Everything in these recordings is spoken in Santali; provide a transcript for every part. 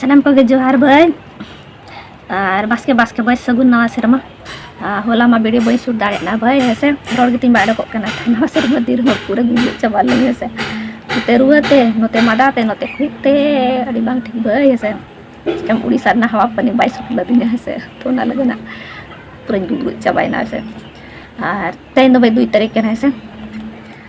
ᱥᱟᱱᱟᱢ ᱠᱚᱜᱮ ᱡᱚᱦᱟᱨ ᱵᱟᱹᱭ ᱟᱨ ᱵᱟᱥᱠᱮ ᱵᱟᱥᱠᱮ ᱵᱟᱹᱭ ᱥᱟᱹᱜᱩᱱ ᱱᱟᱣᱟ ᱥᱮᱨᱢᱟ ᱦᱚᱞᱟ ᱢᱟ ᱵᱤᱰᱤ ᱵᱟᱹᱧ ᱥᱩᱨ ᱫᱟᱲᱮᱭᱟᱜᱼᱟ ᱵᱷᱟᱹᱭ ᱦᱮᱸ ᱥᱮ ᱨᱚᱲ ᱜᱮᱛᱤᱧ ᱵᱟᱭ ᱚᱰᱚᱠᱚᱜ ᱠᱟᱱᱟ ᱱᱟᱣᱟ ᱥᱮᱨᱢᱟ ᱫᱤᱱ ᱨᱮᱦᱚᱸ ᱯᱩᱨᱟᱹ ᱜᱩᱡᱩᱜ ᱪᱟᱵᱟ ᱞᱮᱱ ᱦᱮᱸ ᱥᱮ ᱱᱚᱛᱮ ᱨᱩᱣᱟᱹ ᱛᱮ ᱱᱚᱛᱮ ᱢᱟᱫᱟ ᱛᱮ ᱱᱚᱛᱮ ᱠᱷᱩᱜ ᱛᱮ ᱟᱹᱰᱤ ᱵᱟᱝ ᱴᱷᱤᱠ ᱵᱟᱹᱭ ᱦᱮᱸ ᱥᱮ ᱪᱤᱠᱟᱹᱢ ᱩᱲᱤᱥᱥᱟ ᱨᱮᱱᱟᱜ ᱦᱟᱣᱟ ᱯᱟᱹᱱᱤ ᱵᱟᱭ ᱥᱩᱴ ᱞᱟᱹᱫᱤᱧᱟ ᱦᱮᱸ ᱥᱮ ᱛᱚ ᱚᱱᱟ ᱞᱟᱹᱜᱤᱫ ᱱᱟᱜ ᱯᱩᱨᱟᱹᱧ ᱜᱩᱡᱩᱜ ᱪᱟᱵᱟᱭᱮᱱᱟ ᱦᱮᱸ ᱥᱮ ᱟᱨ ᱛᱮᱦᱮᱧ ᱫᱚ ᱵᱟᱹᱭ ᱫᱩᱭ ᱛᱟᱹᱨᱤᱠᱷ ᱠᱟᱱᱟ ᱦᱮᱸ ᱥᱮ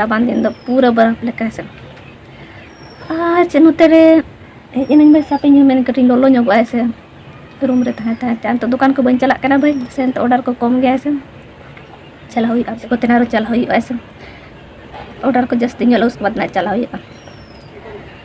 ᱨᱟᱵᱟᱝ ᱫᱤᱱ ᱫᱚ ᱯᱩᱨᱟᱹ ᱵᱚᱨᱚᱯ ᱞᱮᱠᱟ ᱥᱮ ᱟᱨ ᱪᱮᱫ ᱱᱚᱛᱮ ᱨᱮ ᱦᱮᱡ ᱮᱱᱟᱹᱧ ᱵᱷᱟᱹᱭ ᱥᱟᱯ ᱤᱧ ᱢᱮᱱ ᱠᱟᱹᱴᱤᱡ ᱞᱚᱞᱚ ᱧᱚᱜᱚᱜᱼᱟ ᱥᱮ ᱨᱩᱢ ᱨᱮ ᱛᱟᱦᱮᱸ ᱛᱟᱦᱮᱸ ᱛᱮ ᱱᱤᱛᱚᱜ ᱫᱚᱠᱟᱱ ᱠᱚ ᱵᱟᱹᱧ ᱪᱟᱞᱟᱜ ᱠᱟᱱᱟ ᱵᱷᱟᱹᱭ ᱥᱮ ᱱᱤᱛᱚᱜ ᱚᱰᱟᱨ ᱠᱚ ᱠᱚᱢ ᱜᱮᱭᱟ ᱥᱮ ᱪᱟᱞᱟᱣ ᱦᱩᱭᱩᱜᱼᱟ ᱥᱮ ᱠᱚᱛᱮ ᱟᱨᱚ ᱪᱟᱞᱟᱣ ᱦᱩᱭᱩᱜᱼᱟ ᱥᱮ ᱚᱰᱟᱨ ᱠᱚ ᱡᱟᱹᱥᱛᱤ ᱧᱚᱜ ᱩᱥᱠᱮ ᱵᱟᱫ ᱪᱟᱞᱟᱣ ᱦᱩᱭᱩᱜᱼᱟ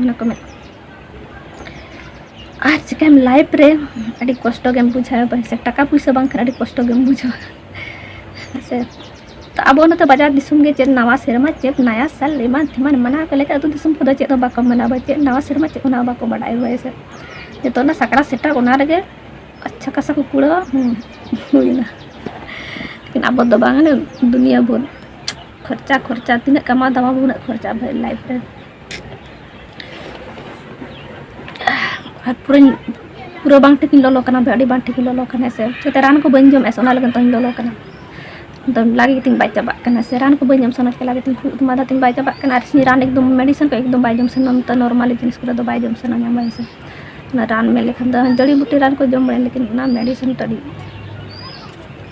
ᱚᱱᱟᱠᱚ ᱢᱮᱱ ᱟᱨ ᱪᱤᱠᱟᱹᱭᱟᱢ ᱞᱟᱭᱤᱯ ᱨᱮ ᱟᱹᱰᱤ ᱠᱚᱥᱴᱚ ᱜᱮᱢ ᱵᱩᱡᱷᱟᱹᱣᱟ ᱯᱚᱭᱥᱟ ᱴᱟᱠᱟ ᱯᱩᱭᱥᱟᱹ ᱵᱟᱝᱠᱷᱟᱱ ᱟᱹᱰᱤ ᱠᱚᱥᱴᱚ ᱜᱮᱢ ᱵᱩᱡᱷᱟᱹᱣᱟ ᱥᱮ ᱛᱚ ᱟᱵᱚ ᱱᱚᱛᱮ ᱵᱟᱡᱟᱨ ᱫᱤᱥᱚᱢ ᱜᱮ ᱪᱮᱫ ᱱᱟᱣᱟ ᱥᱮᱨᱢᱟ ᱪᱮᱫ ᱱᱟᱭᱟ ᱥᱟᱞ ᱮᱢᱟᱱ ᱛᱮᱢᱟᱱ ᱢᱟᱱᱟᱣ ᱠᱚ ᱞᱮᱠᱟ ᱟᱹᱛᱩ ᱫᱤᱥᱚᱢ ᱠᱚᱫᱚ ᱪᱮᱫ ᱦᱚᱸ ᱵᱟᱠᱚ ᱢᱟᱱᱟᱣᱟ ᱪᱮᱫ ᱱᱟᱣᱟ ᱥᱮᱨᱢᱟ ᱪᱮᱫ ᱚᱱᱟ ᱵᱟᱠᱚ ᱵᱟᱰᱟᱭ ᱦᱳᱭ ᱥᱮ ᱡᱚᱛᱚ ᱚᱱᱟ ᱥᱟᱠᱨᱟᱛ ᱥᱮᱴᱮᱨ ᱚᱱᱟ ᱨᱮᱜᱮ ᱟᱪᱪᱷᱟ ᱠᱟᱥᱟ ᱠᱚ ᱠᱩᱲᱟᱹᱣᱟ ᱦᱩᱭᱱᱟ ᱞᱮᱠᱤᱱ ᱟᱵᱚ ᱫᱚ ᱵᱟᱝ ᱫᱩᱱᱤᱭᱟᱹ ᱵᱷᱳᱨ ᱠᱷᱚᱨᱪᱟ ᱠᱷᱚᱨᱪᱟ ᱛᱤᱱᱟᱹᱜ ᱠᱟᱢᱟᱣ ᱫᱟᱢᱟᱣ ᱩᱱᱟᱹᱜ ᱠᱷᱚᱨᱪᱟ ᱵᱷᱟᱹᱭ ᱞᱟᱭᱤᱯ ᱨᱮ ᱟᱨ ᱯᱩᱨᱟᱹᱧ ᱯᱩᱨᱟᱹ ᱵᱟᱝ ᱴᱷᱤᱠ ᱤᱧ ᱞᱚᱞᱚ ᱠᱟᱱᱟ ᱫᱚ ᱟᱹᱰᱤ ᱵᱟᱝ ᱴᱷᱤᱠ ᱤᱧ ᱞᱚᱞᱚ ᱠᱟᱱᱟ ᱥᱮ ᱪᱮᱛᱟ ᱨᱟᱱ ᱠᱚ ᱵᱟᱹᱧ ᱡᱚᱢᱮᱫ ᱚᱱᱟ ᱞᱟᱹᱜᱤᱫ ᱛᱮᱧ ᱞᱚᱞᱚ ᱠᱟᱱᱟ ᱫᱚ ᱞᱟᱜᱮ ᱜᱮᱛᱤᱧ ᱵᱟᱭ ᱪᱟᱵᱟᱜ ᱠᱟᱱᱟ ᱥᱮ ᱨᱟᱱ ᱠᱚ ᱵᱟᱹᱧ ᱡᱚᱢ ᱥᱟᱱᱟ ᱪᱮᱠᱟ ᱞᱟᱜᱮ ᱛᱤᱧ ᱠᱷᱩᱜ ᱢᱟᱫᱟ ᱛᱤᱧ ᱵᱟᱭ ᱪᱟᱵᱟᱜ ᱠᱟᱱᱟ ᱟᱨ ᱥᱤᱧ ᱨᱟᱱ ᱮᱠᱫᱚᱢ ᱢᱮᱰᱤᱥᱤᱱ ᱠᱚ ᱮᱠᱫᱚᱢ ᱵᱟᱭ ᱡᱚᱢ ᱥᱟᱱᱟ ᱱᱚᱛᱮ ᱱᱚᱨᱢᱟᱞᱤ ᱡᱤᱱᱤᱥ ᱠᱚᱨᱮ ᱫᱚ ᱵᱟᱭ ᱡᱚᱢ ᱥᱟᱱᱟ ᱧᱟᱢ ᱵᱟᱭ ᱥᱮ ᱚᱱᱟ ᱨᱟᱱ ᱢᱮᱱ ᱞᱮᱠᱷᱟᱱ ᱫᱚ ᱡᱟᱹᱲᱤ ᱵᱩᱴᱤ ᱨᱟᱱ ᱠᱚ ᱡᱚᱢ ᱵᱟᱲᱟᱭᱟ ᱞᱮᱠᱤᱱ ᱚᱱᱟ ᱢᱮᱰᱤᱥᱤᱱ ᱛᱟᱹᱲᱤ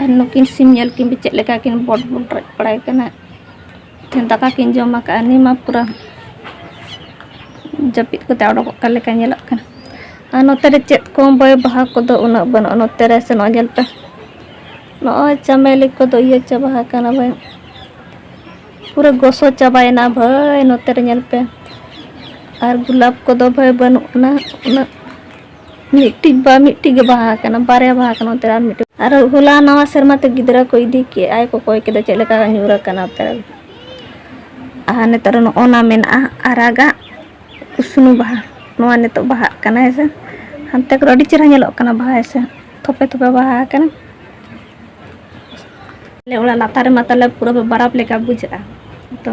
ᱟᱨ ᱱᱩᱠᱤᱱ ᱥᱤᱢ ᱧᱮᱞ ᱠᱤᱱ ᱵᱤᱱ ᱪᱮᱫ ᱞᱮᱠᱟ ᱠᱤᱱ ᱵᱚᱰ ᱵᱚᱰᱨᱟᱜ ᱵᱟᱲᱟᱭ ᱠᱟᱱᱟ ᱢᱤᱫᱴᱷᱮᱱ ᱫᱟᱠᱟ ᱠᱤᱱ ᱡᱚᱢ ᱟᱠᱟᱫᱼᱟ ᱱᱤᱭᱟᱹ ᱢᱟ ᱯᱩᱨᱟᱹ ᱡᱟᱹᱯᱤᱫ ᱠᱟᱛᱮ ᱚᱰᱚᱠᱚᱜ ᱠᱟᱱ ᱞᱮᱠᱟ ᱧᱮᱞᱚᱜ ᱠᱟᱱᱟ ᱟᱨ ᱱᱚᱛᱮ ᱨᱮ ᱪᱮᱫ ᱠᱚ ᱵᱚᱭ ᱵᱟᱦᱟ ᱠᱚᱫᱚ ᱩᱱᱟᱹᱜ ᱵᱟᱹᱱᱩᱜᱼᱟ ᱱᱚᱛᱮ ᱨᱮ ᱥᱮᱱᱚᱜ ᱧᱮᱞ ᱯᱮ ᱱᱚᱜᱼᱚᱭ ᱪᱟᱢᱮᱞᱤ ᱠᱚᱫᱚ ᱤᱭᱟᱹ ᱪᱟᱵᱟ ᱟᱠᱟᱱᱟ ᱵᱟᱹᱧ ᱯᱩᱨᱟᱹ ᱜᱚᱥᱚ ᱪᱟᱵᱟᱭᱮᱱᱟ ᱵᱷᱟᱹᱭ ᱱᱚᱛᱮ ᱨᱮ ᱧᱮᱞ ᱯᱮ ᱟᱨ ᱜᱩᱞᱟᱵ ᱠᱚᱫᱚ ᱵᱷᱟᱹᱭ ᱵᱟᱹᱱᱩᱜ ᱟᱱᱟ ᱩᱱᱟᱹᱜ ᱢᱤᱫᱴᱤᱡ ᱵᱟ ᱢᱤᱫᱴᱤᱡ ᱜᱮ ᱵᱟᱦᱟ ᱠᱟᱱᱟ ᱵᱟᱨᱭᱟ ᱵᱟᱦᱟ ᱠᱟᱱᱟ ᱚᱱᱛᱮ ᱟᱨ ᱢᱤᱫᱴᱤᱡ ᱟᱨ ᱦᱚᱞᱟ ᱱᱟᱣᱟ ᱥᱮᱨᱢᱟ ᱛᱮ ᱜᱤᱫᱽᱨᱟᱹ ᱠᱚ ᱤᱫᱤ ᱠᱮ ᱟᱭ ᱠᱚ ᱠᱚᱭ ᱠᱮᱫᱟ ᱪᱮᱫ ᱞᱮᱠᱟ ᱧᱩᱨ ᱟᱠᱟᱱᱟ ᱚᱱᱛᱮ ᱟᱨ ᱱᱤᱛᱚᱜ ᱨᱮ ᱚᱱᱟ ᱢᱮᱱᱟᱜᱼᱟ ᱟᱨᱟᱜᱟᱜ ᱩᱥᱱᱩ ᱵᱟᱦᱟ ᱱᱚᱣᱟ ᱱᱤᱛᱚᱜ ᱵᱟᱦᱟᱜ ᱠᱟᱱᱟ ᱦᱮᱸᱥᱮ ᱦᱟᱱᱛᱮ ᱠᱚᱨᱮ ᱟᱹᱰᱤ ᱪᱮᱦᱨᱟ ᱧᱮᱞᱚᱜ ᱠᱟᱱᱟ ᱵᱟᱦᱟ ᱦᱮᱸᱥᱮ ᱛᱷᱚᱯᱮ ᱛᱷᱚᱯᱮ ᱵᱟᱦᱟ ᱠᱟᱱᱟ ᱟᱞᱮ ᱚᱲᱟᱜ ᱞᱟᱛᱟᱨ ᱨᱮᱢᱟ ᱛᱟᱞᱮ ᱯᱩᱨᱟᱹ ᱵᱟᱨᱟᱯ ᱞᱮᱠᱟ ᱵᱩᱡᱷᱟᱹᱜᱼᱟ ᱛᱚ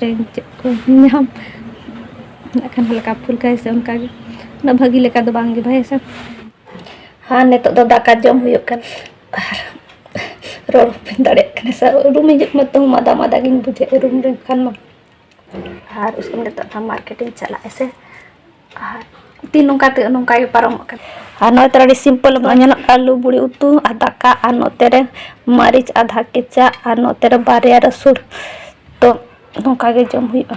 ᱨᱮᱱ ᱪᱮᱫ ᱠᱚ ᱧᱟᱢ ᱱᱟᱜ ᱠᱷᱟᱱ ᱦᱟᱞᱠᱟ ᱯᱷᱩᱞᱠᱟ ᱥᱮ ᱚᱱᱠᱟ ᱜᱮ ᱩᱱᱟᱹᱜ ᱵᱷᱟᱹᱜᱤ ᱞᱮᱠᱟ ᱫᱚ ᱵᱟᱝ ᱜᱮ ᱵᱷᱟᱭ ᱥᱮ ᱟᱨ ᱱᱤᱛᱚᱜ ᱫᱚ ᱫᱟᱠᱟ ᱡᱚᱢ ᱦᱩᱭᱩᱜ ᱠᱟᱱᱟ ᱟᱨ ᱨᱚᱲ ᱵᱟᱹᱧ ᱫᱟᱲᱮᱭᱟᱜ ᱠᱟᱱᱟ ᱥᱮ ᱨᱩᱢ ᱦᱤᱡᱩᱜ ᱢᱟ ᱛᱟᱹᱦᱩ ᱢᱟᱫᱟ ᱢᱟᱫᱟ ᱜᱤᱧ ᱵᱩᱡᱷᱟᱹᱣᱮᱫ ᱨᱩᱢ ᱨᱮ ᱠᱷᱟᱱ ᱢᱟ ᱟᱨ ᱩᱥᱠᱮ ᱱᱤᱛᱚᱜ ᱢᱟᱨᱠᱮᱴᱤᱝ ᱪᱟᱞᱟᱜ ᱟᱥᱮ ᱛᱤᱱ ᱱᱚᱝᱠᱟ ᱛᱮ ᱱᱚᱝᱠᱟ ᱜᱮ ᱯᱟᱨᱚᱢᱚᱜ ᱠᱟᱱᱟ ᱟᱨ ᱱᱚᱜᱼᱚᱭ ᱛᱚ ᱟᱹᱰᱤ ᱥᱤᱢᱯᱚᱞ ᱵᱚᱱ ᱧᱮᱞᱚᱜ ᱟᱹᱞᱩ ᱵᱩᱲᱤ ᱩᱛᱩ ᱟᱨ ᱫᱟᱠᱟ ᱟᱨ ᱱᱚᱛᱮ ᱨᱮ ᱢᱟᱹᱨᱤᱪ ᱟᱫᱷᱟ ᱠᱮᱪᱟ ᱟᱨ ᱱᱚᱛᱮ ᱨᱮ ᱵᱟᱨᱭᱟ ᱨᱟᱹᱥᱩᱱ ᱛᱚ ᱱᱚᱝᱠᱟ ᱜᱮ ᱡᱚᱢ ᱦᱩᱭᱩᱜᱼᱟ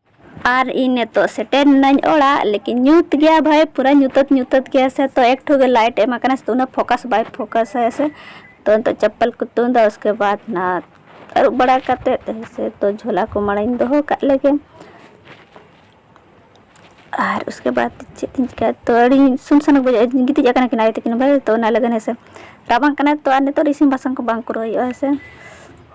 ᱟᱨ ᱤᱧ ᱱᱤᱛᱚᱜ ᱥᱮᱴᱮᱨ ᱱᱟᱹᱧ ᱚᱲᱟᱜ ᱞᱮᱠᱤᱱ ᱧᱩᱛ ᱜᱮᱭᱟ ᱵᱷᱟᱭ ᱯᱩᱨᱟᱹ ᱧᱩᱛᱟᱹᱛ ᱧᱩᱛᱟᱹᱛ ᱜᱮᱭᱟ ᱥᱮ ᱛᱚ ᱮᱠ ᱴᱷᱚ ᱜᱮ ᱞᱟᱭᱤᱴ ᱮᱢ ᱟᱠᱟᱱᱟ ᱥᱮ ᱩᱱᱟᱹᱜ ᱯᱷᱳᱠᱟᱥ ᱵᱟᱭ ᱯᱷᱳᱠᱟᱥ ᱟᱭ ᱥᱮ ᱛᱚ ᱱᱤᱛᱚᱜ ᱪᱟᱯᱯᱟᱞ ᱠᱚ ᱛᱩᱫᱟ ᱩᱥᱠᱮ ᱵᱟᱫ ᱱᱟ ᱟᱹᱨᱩᱵ ᱵᱟᱲᱟ ᱠᱟᱛᱮ ᱥᱮ ᱛᱚ ᱡᱷᱚᱞᱟ ᱠᱚ ᱢᱟᱲᱟᱝ ᱤᱧ ᱫᱚᱦᱚ ᱠᱟᱜ ᱞᱮᱜᱮ ᱟᱨ ᱩᱥᱠᱮ ᱵᱟᱫ ᱪᱮᱫ ᱤᱧ ᱪᱤᱠᱟᱹᱭᱟ ᱛᱚ ᱟᱹᱰᱤ ᱥᱩᱱ ᱥᱟᱱ ᱵᱩᱡᱷᱟᱹᱜᱼᱟ ᱜᱤᱛᱤᱡ ᱟᱠᱟᱱᱟ ᱠᱤᱱ ᱟᱭᱳ ᱛᱟᱹᱠᱤᱱ ᱵᱷᱟᱭ ᱛᱚ ᱚᱱᱟ ᱞᱟᱹᱜᱤᱫ ᱦᱮᱸ ᱥᱮ ᱨᱟᱵᱟᱝ ᱠᱟᱱᱟ ᱛᱚ ᱟᱨ ᱱᱤᱛᱚᱜ ᱤᱥᱤᱱ ᱵᱟᱥᱟᱝ ᱠᱚ ᱵᱟᱝ ᱠᱚᱨᱟᱣ ᱦᱩᱭᱩᱜᱼᱟ ᱦᱮᱸ ᱥᱮ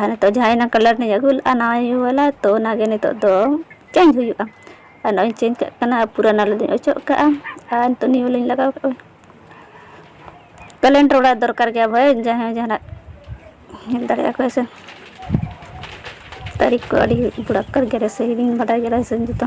ᱟᱨ ᱱᱤᱛᱚᱜ ᱡᱟᱦᱟᱸ ᱮᱱᱟᱝ ᱠᱟᱞᱟᱨ ᱞᱤᱧ ᱟᱹᱜᱩ ᱞᱮᱫᱼᱟ ᱱᱟᱣᱟ ᱤᱭᱟᱹ ᱵᱟᱞᱟ ᱛᱳ ᱚᱱᱟ ᱜᱮ ᱱᱤᱛᱚᱜ ᱫᱚ ᱪᱮᱧᱡᱽ ᱦᱩᱭᱩᱜᱼᱟ ᱟᱨ ᱱᱚᱜᱼᱚᱭ ᱤᱧ ᱪᱮᱧᱡᱽ ᱠᱟᱜ ᱠᱟᱱᱟ ᱯᱩᱨᱟᱱᱟ ᱞᱤᱧ ᱚᱪᱚᱜ ᱠᱟᱜᱼᱟ ᱟᱨ ᱱᱤᱛᱚᱜ ᱱᱤᱭᱩ ᱞᱤᱧ ᱞᱟᱜᱟᱣ ᱠᱟᱜᱼᱟ ᱠᱮᱞᱮᱱᱰᱟᱨ ᱚᱲᱟᱜ ᱫᱚᱨᱠᱟᱨ ᱜᱮᱭᱟ ᱵᱷᱟᱹᱭ ᱡᱟᱦᱟᱸᱭ ᱡᱟᱦᱟᱱᱟᱜ ᱧᱮᱞ ᱫᱟᱲᱮᱭᱟᱜᱼᱟ ᱠᱚ ᱦᱮᱸ ᱥᱮ ᱛᱟᱹᱨᱤᱠᱷ ᱠᱚ ᱟᱹᱰᱤ ᱫᱚᱨᱠᱟᱨ ᱜᱮᱭᱟ ᱥᱮ ᱦᱤᱲᱤᱧ ᱵᱟᱰᱟᱭ ᱜᱮᱭᱟ ᱥᱮ ᱡᱚᱛᱚ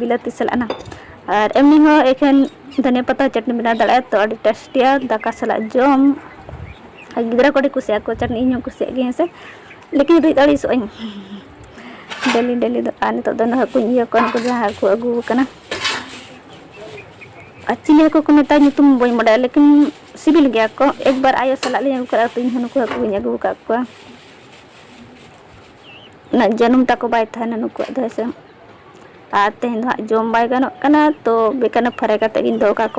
ᱵᱤᱞᱟᱹᱛᱤ ᱥᱟᱞᱟᱜ ᱱᱟ ᱟᱨ ᱮᱢᱱᱤ ᱦᱚᱸ ᱮᱠᱷᱮᱱ ᱫᱷᱚᱱᱤᱭᱟᱹ ᱯᱟᱛᱟ ᱪᱟᱴᱱᱤ ᱵᱮᱱᱟᱣ ᱫᱟᱲᱮᱭᱟᱜᱼᱟ ᱛᱚ ᱟᱹᱰᱤ ᱴᱮᱥᱴᱤᱭᱟ ᱫᱟᱠᱟ ᱥᱟᱞᱟᱜ ᱡᱚᱢ ᱟᱨ ᱜᱤᱫᱽᱨᱟᱹ ᱠᱚ ᱟᱹᱰᱤ ᱠᱩᱥᱤᱭᱟᱜᱼᱟ ᱠᱚ ᱪᱟᱴᱱᱤ ᱤᱧ ᱦᱚᱸ ᱠᱩᱥᱤᱭᱟᱜ ᱜᱮ ᱦᱮᱸ ᱥᱮ ᱞᱮᱠᱤᱱ ᱨᱤᱫ ᱟᱹᱲᱤᱥᱚᱜ ᱟᱹᱧ ᱰᱮᱞᱤ ᱰᱮᱞᱤ ᱫᱚ ᱟᱨ ᱱᱤᱛᱚᱜ ᱫᱚ ᱦᱟᱹᱠᱩᱧ ᱤᱭᱟᱹ ᱠᱚᱣᱟ ᱩᱱᱠᱩ ᱡᱟᱦᱟᱸ ᱦᱟᱹᱠᱩ ᱟᱹᱜᱩ ᱟᱠᱟᱱᱟ ᱟᱨ ᱪᱤᱞᱤ ᱦᱟᱹᱠᱩ ᱠᱚ ᱢᱮᱛᱟᱭ ᱧᱩᱛᱩᱢ ᱵᱟᱹᱧ ᱵᱟᱰᱟᱭᱟ ᱞᱮᱠᱤᱱ ᱥᱤᱵᱤᱞ ᱜᱮᱭᱟ ᱠᱚ ᱮᱠᱵᱟᱨ ᱟᱭᱳ ᱥᱟᱞᱟᱜ ᱞᱤᱧ ᱟᱹᱜᱩ ᱠᱟᱜᱼᱟ ᱛᱚ ᱤᱧ ᱦᱚᱸ ᱱᱩᱠᱩ ᱦᱟᱹᱠᱩᱧ ᱟᱹᱜᱩ ᱟᱠᱟᱫ ᱠᱚᱣᱟ ᱩᱱᱟᱹᱜ ᱡᱟᱹᱱᱩᱢ ᱛᱟᱠᱚ ᱵᱟᱭ ᱛᱟᱦᱮᱱᱟ ᱱᱩᱠᱩᱣᱟᱜ ᱫᱚ ᱦᱮᱸᱥᱮ ᱟᱨ ᱛᱮᱦᱮᱧ ᱫᱚ ᱦᱟᱸᱜ ᱡᱚᱢ ᱵᱟᱭ ᱜᱟᱱᱚᱜ ᱠᱟᱱᱟ ᱛᱚ ᱵᱮᱠᱟᱨ ᱯᱷᱟᱨᱟᱭ ᱠᱟᱛᱮ ᱜᱤᱧ ᱫᱚᱦᱚ ᱠᱟᱠᱚᱣᱟ